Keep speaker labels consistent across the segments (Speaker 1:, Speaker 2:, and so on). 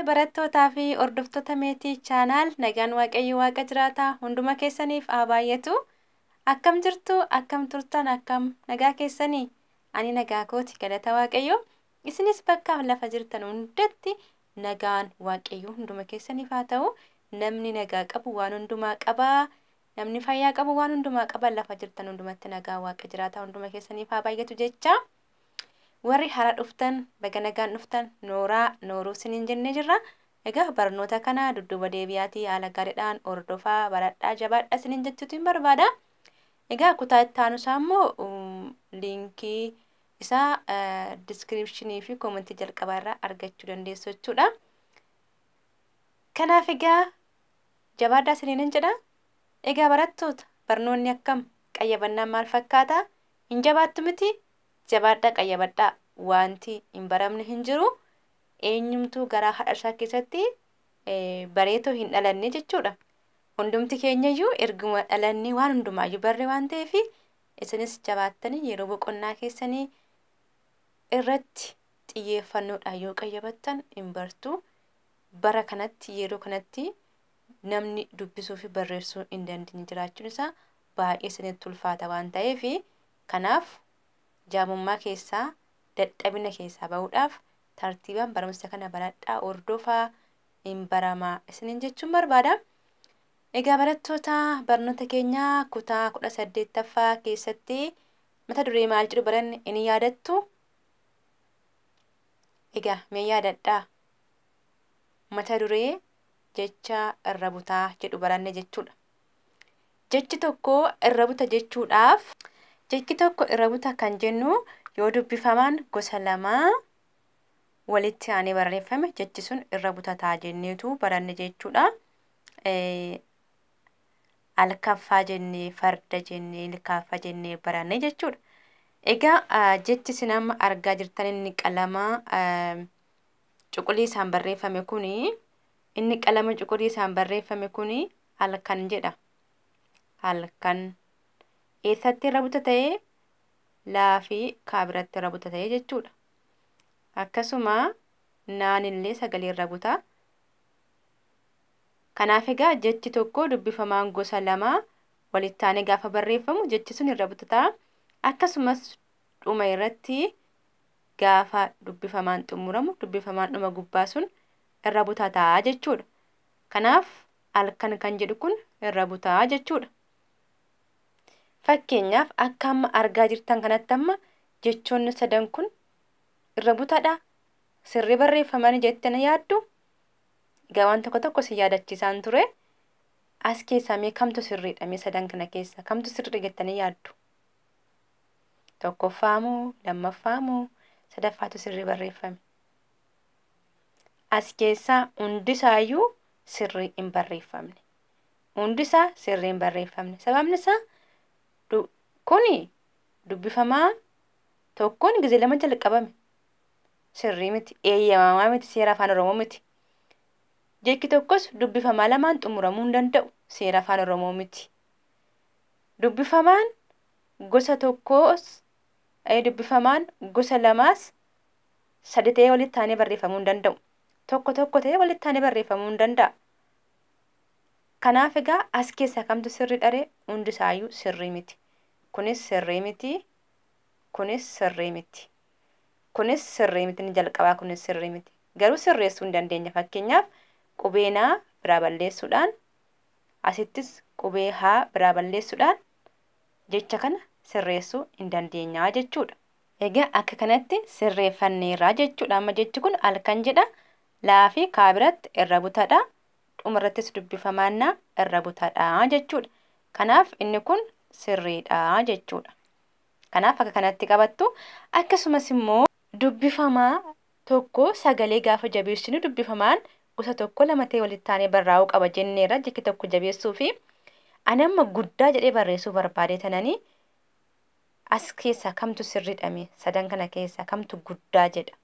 Speaker 1: Barattootaa fi hordoftoota Meetii Chaanaal nagaan Waaqayyo Waaqa jiraataa hunduma keessaniif haa baay'atu. Akkam jirtu? Akkam turtan? Akkam nagaa keessanii? Ani nagaa kooti galata Waaqayyo. Isinis bakkaaf lafa jirtan hundatti nagaan Waaqayyo hunduma keessaniif haa ta'u. Namni nagaa qabu waan hundumaa qaba. Namni fayyaa qabu waan hundumaa qaba. Lafa jirtan hundumatti nagaa Waaqa jiraataa hunduma keessaniif haa baay'atu jecha. Warri hara dhuftan baga nagaan dhuftan nooraa nooruu sinin jenne jirra. Egaa barnoota kana dudduuba deebi'aatii haala gaariidhaan hordofaa baradhaa jabaadha sinin jechuutiin barbaada. Egaa kutaa itti aanusaa immoo liinkii isaa diskiripshinii fi koomentii jalqabaa irraa argachuu dandeessu jechuudha. Kanaaf egaa jabaadhaa siniin jedha. Egaa barattoota barnoonni akkam qayyabannaan maal fakkaata? Hin jabaattu mitii? Jabaadhaa qayyabadhaa. Waanti hin baramne hin jiru. Eenyumtuu garaa hadhasaa keessatti bareetoo hin dhalanne jechuudha. Hundumti keenyayyuu erguma dhalannee waan hundumaayyuu barre waan ta'eef isinis jabaattanii yeroo boqonnaa keessanii irratti xiyyeeffannoodhaan yoo qayyabattan hin bartu. Bara kanatti yeroo kanatti namni dubbisuu fi barreessuu hin dandeenye jiraachuun isaa baay'ee isinitti ulfaata waan ta'eef kanaaf jaamummaa keessaa dadhabina keessaa ba'uudhaaf tartiibaan barumsa kana baradhaa hordofaa hin baramaa isiniin jechuun barbaada. Egaa barattoota barnoota keenya kutaa kudha saddeettaffaa keessatti mata duree maal jedhu baranne in yaadattu? Egaa mee yaadadhaa mata duree jecha irra butaa jedhu baranne jechuudha. Jechi tokko irra buta jechuudhaaf jechi tokko irra buta kan jennu yoo dubbifamaan gosa lama walitti aanee barreeffame jechi sun irra butataa jenneetu baranne jechuudha. Alkaffaa jennee, farda jennee, ilkaaffaa jennee baranne jechuudha. Egaa jechi isin amma argaa jirtan inni qalama cuquliisaan barreeffame kuni Inni qalama cuquliisaan barreeffame kuni halkan jedha. Halkan. Eessatti irra buta ta'e? Laa fi kaa biratti irra buta ta'e jechuudha. Akkasuma naan illee sagalee irra buta. Kanaaf egaa jechi tokko dubbifamaan gosa lama walittaanee gaafa barreeffamu jechi sun irra butata. Akkasumas dhuma irratti gaafa dubbifamaan xumuramu dubbifamaan dhuma gubbaa sun irra butata jechuudha. Kanaaf halkan kan jedhu kun irra buta jechuudha. Fakkeenyaaf akka amma argaa jirtan kanatti amma jechoonni sadan kun irra butadha sirrii barreeffamanii jettee na yaaddu egaa waan tokko tokko si yaadachiisaan ture as keessaa mee kamtu sirriidha mee sadan kana keessaa kamtu sirriidha jettanii yaaddu tokkoffaa moo lammaffaa moo sadaffaatu sirrii barreeffame As keessaa hundisaayyuu sirrii hin barreeffamne. Hundisaa sirrii hin barreeffamne. Sababni isaa du- kuni dubbifamaa tokkoon gizee lama jalqabame. Sirrii miti, eeyyamamaa miti, seera afaan Oromoo miti. Jechi tokkos dubbifamaa lamaan xumuramuu hin danda'u, seera afaan Oromoo miti. Dubbifamaan gosa tokkoos, eh, dubbifamaan gosa lamaas sadi ta'ee walitti aanee barreeffamuu hin danda'u. Tokko tokko ta'ee walitti aanee barreeffamuu hin danda'a. Kanaaf egaa as keessaa kamtu sirrii dharee hundi isaayyuu sirrii miti. Kunis sirrii miti. Kunis sirrii miti. Kunis sirrii miti ni jalqabaa kunis sirrii miti. Garuu sirreessuu hin dandeenya. Fakkeenyaaf qubee naa biraa balleessuudhaan asittis qubee haa biraa balleessuudhaan jecha kana sirreessuu hin dandeenyaa jechuudha. Egaa akka kanatti sirreeffanneerra jechuudha. Amma jechi kun alkan jedha. Laa fi kaa biratti irra butadha. Dhuma irrattis dubbifamaan naa irra butadha jechuudha. Kanaaf inni kun sirriidha jechuudha. Kanaaf akka kanatti qabattu. Akkasumas immoo dubbifamaa tokko sagalee gaafa jabeessinu dubbifamaan gosa tokko lama ta'ee walitti aanee barraa'uu qaba jenneerra jecha tokko jabeessuu fi ani amma guddaa jedhee barreessuu barbaadee tananii As keessaa kamtu sirridha mee? Sadan kana keessaa kamtu guddaa jedha?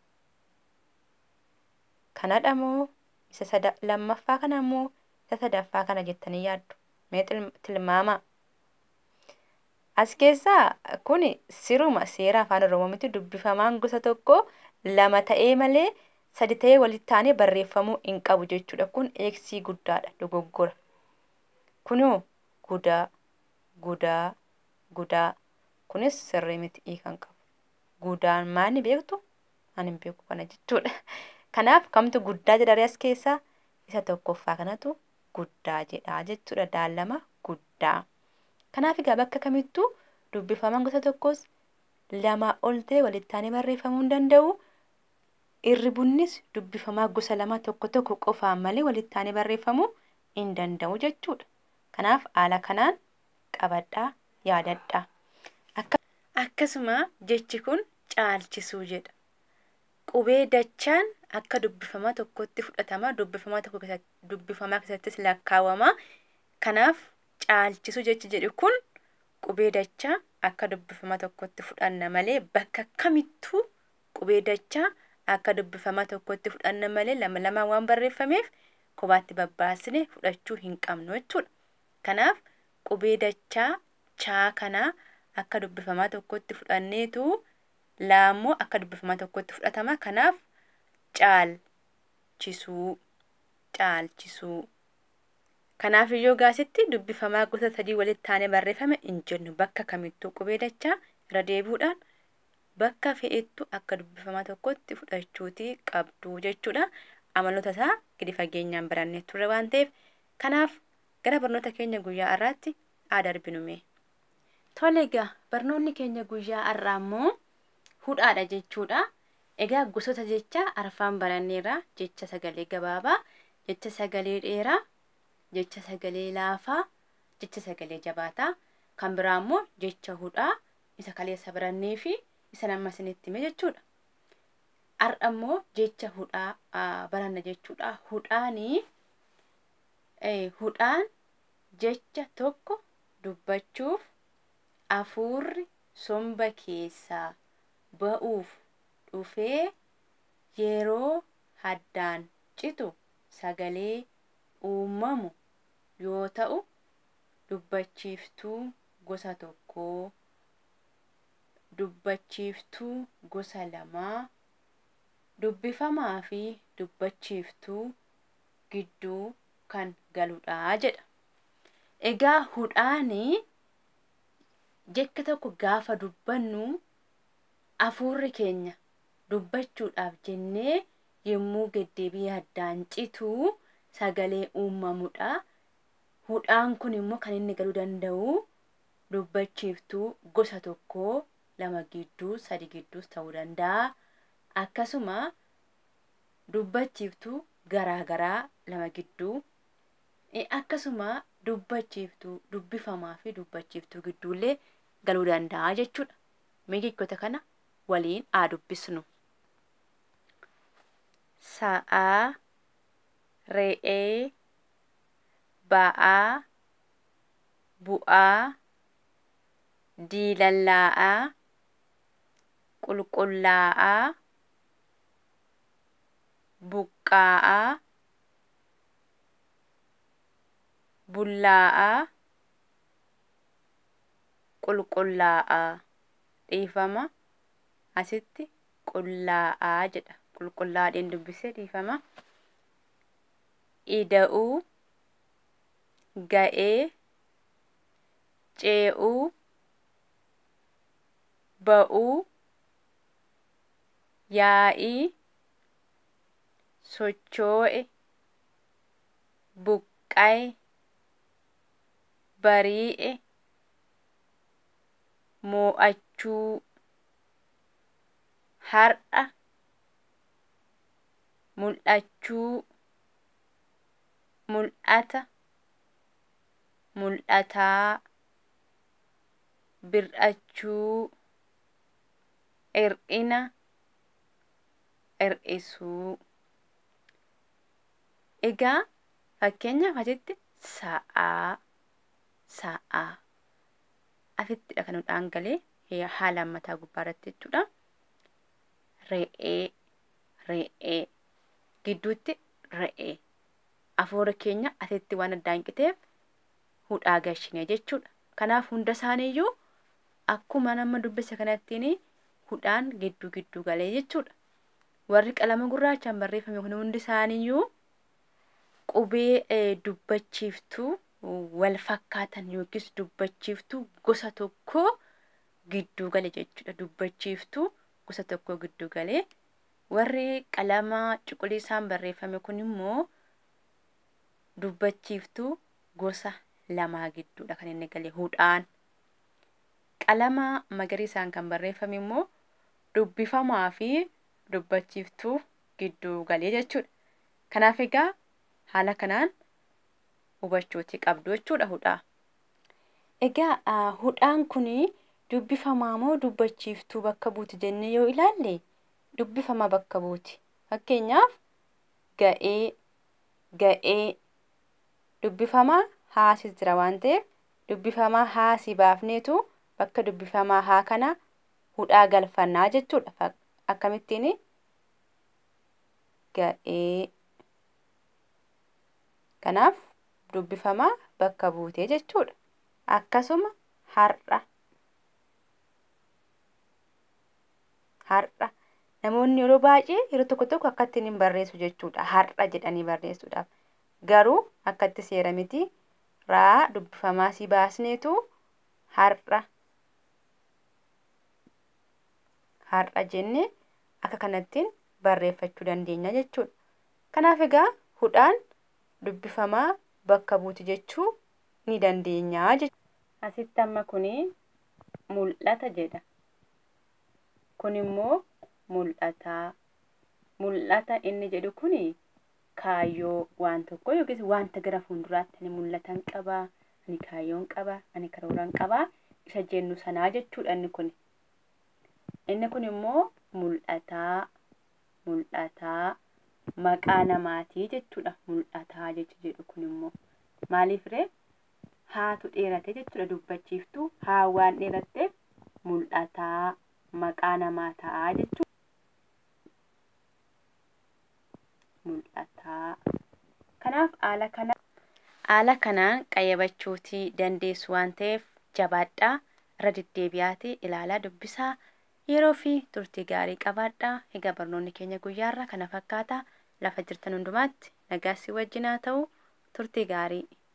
Speaker 1: Kanadha moo isa sada lammaffaa kana moo isa sadaffaa kana jettanii yaaddu? Mee tilm- tilmaamaa. As keessaa kun siruma seera afaan Oromoo miti dubbifamaan gosa tokko lama ta'ee malee sadi ta'ee walitti aanee barreeffamuu hin qabu jechuudha. Kun eegsii guddaadha dogoggora. Kunoo gudaa gudaa gudaa kunis sirrii miti i kan qabu gudaan maani beektu ani hin beeku kana jechuudha kanaaf kamtu guddaa jedharee as keessaa isa tokkoffaa kanatu guddaa jedhaa jechuudha daallama guddaa kanaaf egaa bakka kamittuu dubbifaman gosa tokkos lamaa ol ta'e walittaanee barreeffamuu hin danda'u irri bunnis dubbifamaa gosa lama tokko tokko qofaan malee walittaanee barreeffamuu hin danda'u jechuudha kanaaf haala kanaan qabadhaa, yaadadhaa. Akka. Akkasuma jechi kun caalchisuu jedha. Qubee dachaan akka dubbifama tokkotti fudhatama, dubbifama tokko keessatti, dubbifamaa keessattis lakkaawama. Kanaaf caalchisuu jechi jedhu kun qubee dachaa akka dubbifama tokkotti fudhanna malee bakka kamittuu qubee dachaa akka dubbifama tokkotti fudhanna malee lama lamaan waan barreeffameef kophaatti babbaasine fudhachuu hin qabnu jechuudha. Kanaaf qubee dachaa chaa kana akka dubbifamaa tokkotti fudhanneetu laa immoo akka dubbifamaa tokkotti fudhatama. Kanaaf caal chisuu, caalchisuu. Kanaaf yoo gaasitti dubbifamaa gosa sadii walitti aanee barreeffame hin jennu. Bakka kamittuu qubee dachaa irra deebi'uudhaan bakka fe'ettu akka dubbifamaa tokkotti fudhachuuti qabdu jechuudha. Amaloota isaa gadi fageenyaan barannee turre waan ta'eef Kanaaf gara barnoota keenya guyyaa har'aatti haa darbinu mee. Tole egaa barnoonni keenya guyyaa har'aa immoo hudhaadha jechuudha. Egaa gosoota jechaa arfaan baranneerra jecha sagalee gabaabaa, jecha sagalee dheeraa, jecha sagalee laafaa, jecha sagalee jabaataa. Kan biraa immoo jecha hudhaa isa kaleessa barannee fi isan amma isinitti hime jechuudha. Har'a immoo jecha hudhaa ah, baranna jechuudha. Hudhaanii hudhaan jecha tokko dubbachuuf afuurri somba keessaa ba'uuf dhufee yeroo haddaan citu sagalee uumamu yoo ta'u dubbachiiftuu gosa tokkoo, dubbachiiftuu gosa lamaa, dubbifamaafi dubbachiiftuu gidduu kan galudha jedha. Egaa hudhaan jecha tokko gaafa dubbannu afuurri keenya dubbachuudhaaf jennee yommuu deddeebii yaddaan citu sagalee uumamudha. Hudhaan kun immoo kan inni galuu danda'u dubbachiiftuu gosa tokko lama gidduu sadi gidduus ta'uu danda'a. Akkasuma dubbachiiftuu garaa garaa lama gidduu eh, akkasuma dubbachiiftuu dubbifamaa fi dubbachiiftuu gidduullee galuu danda'a jechuudha. Mee jechoota kana waliin haa dubbisnu. Sa'aa, re'ee, ba'aa, bu'aa, diilallaa'aa, qulqullaa'aa, buqqaa'aa, bullaa'aa, qulqullaa'aa. Dhiifama, asitti qullaa'aa jedha. Qulqullaa'aa dheen dubbisee dhiifama. Ida'uu, ga'ee, cee'uu, ba'uu, yaa'ii sochoo'e buqqaye barii'e moo'achuu har'a mul'achuu mul'ata mul'ataa bir'achuu hir'ina hir'isuu. Egaa fakkeenyaaf asitti sa'aa sa'aa asittidha kan hudhaan galee hee- haala ammataa gubbaa irratti jechuudha. Re'ee re'ee gidduutti re'ee afuura keenya asitti waan addaan qiteef hudhaa gashine jechuudha. Kanaaf hunda isaaniiyyuu Akkuma nama dubbise kanattiin hudhaan gidduu gidduu galee jechuudha. Warri qalama gurraachaan barreeffame kun hundi isaaniiyyuu qubee dubbachiiftuu wal fakkaatan yookiis dubbachiiftuu gosa tokkoo gidduu gale jechuudha. Dubbachiiftuu gosa tokkoo gidduu galee warri qalama cuquliisaan barreeffame kun immoo dubbachiiftuu gosa lamaa gidduudha kan inni gale hudhaan. Qalama magariisaan kan barreeffame immoo dubbifamaa fi dubbachiiftuu gidduu galee jechuudha. Kanaaf egaa haala kanaan hubachuuti qabdu jechuudha hudhaa. Egaa ah, hudhaan kun dubbifamaa moo dubbachiiftuu bakka buuti jennee yoo ilaalle dubbifamaa bakka buuti. Fakkeenyaaf ga'ee, ga'ee dubbifamaa haasis jira waan ta'eef dubbifamaa haa si baafneetu bakka dubbifamaa haa kana hudhaa galfanna jechuudha. Fak- Akkamittiin ga'ee kanaaf dubbifamaa bakka buutee jechuudha. Akkasuma har'a har'a namoonni yeroo baay'ee yeroo tokko tokko akkattiin hin barreessu jechuudha. Har'a jedhanii barreessuudhaaf. Garuu akkatti seera miti. raa dubbifamaa si baasneetu har'a har'a jenne akka kanattiin barreeffachuu dandeenya jechuudha. Kanaaf egaa hudhaan dubbifamaa bakka buuti jechuu ni dandeenya jechuudha. Asitti amma kuni mul'ata jedha. Kun immoo mul'ataa. Mul'ata inni jedhu kuni kaayyoo waan tokkoo yookiis wanta gara fuulduraatti ani mul'atan qaba, ani kaayyoon qaba, ani karooran qaba isa jennu sanaa jechuudha inni kun. Inni kun immoo mul'ataa, mul'ataa maqaa namaatii jechuudha mul'ataa jechi jedhu kun immoo. Maaliif ree? Haatu dheerate jechuudha dubbachiiftuu haa waan dheeratteef mul'ataa maqaa namaa ta'a jechuudha. mul'ata. Kanaaf haala kana haala kanaan qayyabachuuti dandeessu waan ta'eef jabaadhaa irra deddeebi'aati ilaalaa dubbisaa yeroo fi turtii gaarii qabaadhaa. Egaa barnoonni keenya guyyaarraa kana fakkaata. Lafa jirtan hundumaatti nagaa si wajjin haa ta'u turtii gaarii.